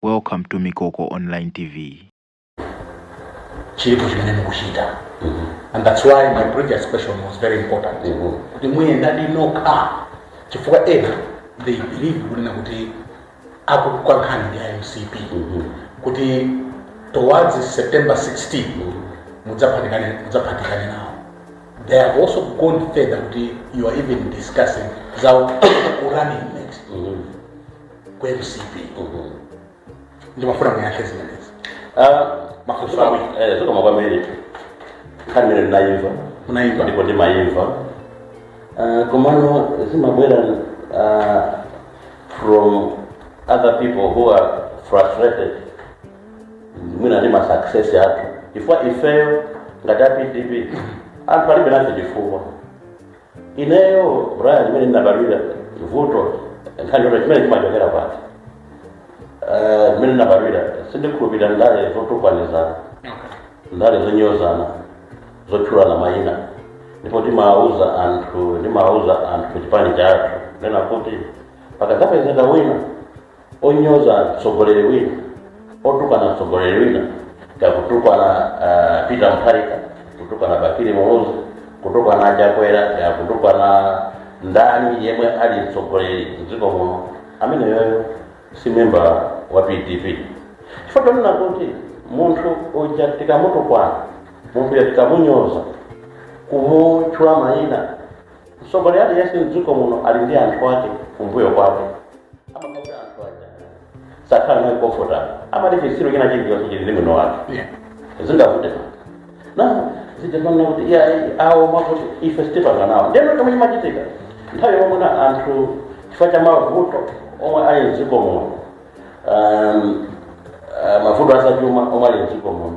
Welcome to Mikoko Online TV. chiripo chimene mukuchita and that's why my previous question was very important kuti muyenda ndi nokha chifukwa ena they believe kunena kuti akulu kwa nkhani ndi a mcp kuti towards september 16 mudzaphatikane mudzaphatikane nawo they have also gone further kuti you are even discussing za running mate ku mcp ndimafuna muyankhe zimenezi mafunso awiri Eh, zokoma kwambiri nkhani imene ndinayimva Munayimva. ndipo ndimayimva Ah, komano zimabwera ah, from other people who are frustrated mwina ndi ma success athu chifukwa ifeyo ngati a pdp anthu alibe nafe chifukwa ineyo brian mmene ndinabadwira vuto nkhani yoti chimene chimachokera pati Eh, mmene ndinabadwira sindikhulupirira ndale zotukwanizana ndale zonyozana zotchulana mayina ndipo timawuza anthu ndimawuza anthu ku chipani chathu nena kuti pakadzapezeka wina onyoza mtsogoleri wina otukwana mtsogoleri wina kakutukwana uh, peter mutharika kutukwana bakili muluzi kutukwana chakwera kakutukwana ndani yemwe ali mtsogoleri mdziko muno ameneyoyo si memba wa pdp chifukwa chonena kuti munthu uja tikamutukwana munthu uja tikamunyoza kumutchula mayina mtsogoleri aliyense mdziko muno ali ndi anthu ake kumbuyo kwake mwakuti anthu aja sakhala naye comfortable amati chitsiru china chilichonse chili ndi mwini wake zingavute na zija amanena kuti ya awo mwakuti ife sitipanga nawo ndiyeno chomwe chimachitika nthawi yomwe ino anthu chifukwa cha mavuto omwe ali mdziko muno um, uh, mavuto azachuma omwe ali mdziko muno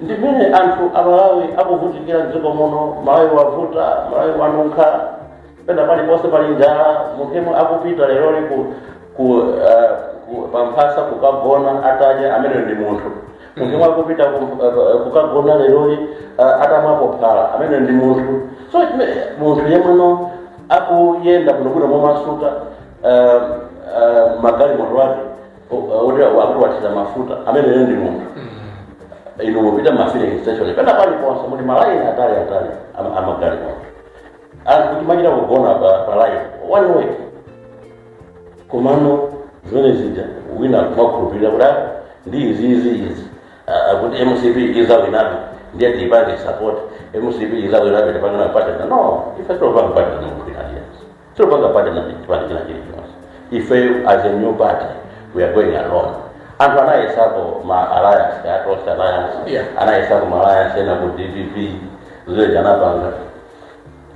ndi mmene anthu amalawi akuvutikira mdziko muno malawi wavuta malawi wanunkha pena paliponse pali njala munthu yemwe akupita leroli ku, ku, uh, ku pamphasa kukagona atadya amene ndi munthu munthu yemwe akupita ku, uh, kukagona leroli uh, atamwapo phala amene ndi munthu so chime- munthu yemwe akuyenda bwinobwino momasuka uh, uh, magalimoto ake odera akuti wathiza mafuta ameneyo ndi munthu inu mupita mafilling station pena pali ponse muli malaini atali atali ama- amagalimoto anthu kuti machita kugona pa pa line one way komano zimene zija wina kumakhulupirira kuti "Ah, ndi izi izi izi Ah, akuti mcp izawinabe ndiye tiipange support mcp izawinabe tipangana partner no ife sitopanga partner ndi munthu wina aliyense sitopanga partner ndi chipani china chilichonse ifeyo as a new party we are going alone anthu anayesapo ma alliance a tonse alliance Yeah. anayesapo ma alliance ena ku dpp zimene anapanga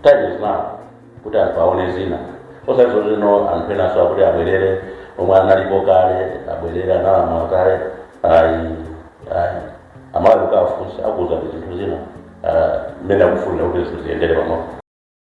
time is now kuti anthu aone zina osati zozino anthu enaso akuti abwerere omwe analipo kale abwerere analamula kale ayi ayi amalawi mukafunse akuwuzani zinthu zina ah, mmene akufunira kuti zinthu ziyendere pamodzi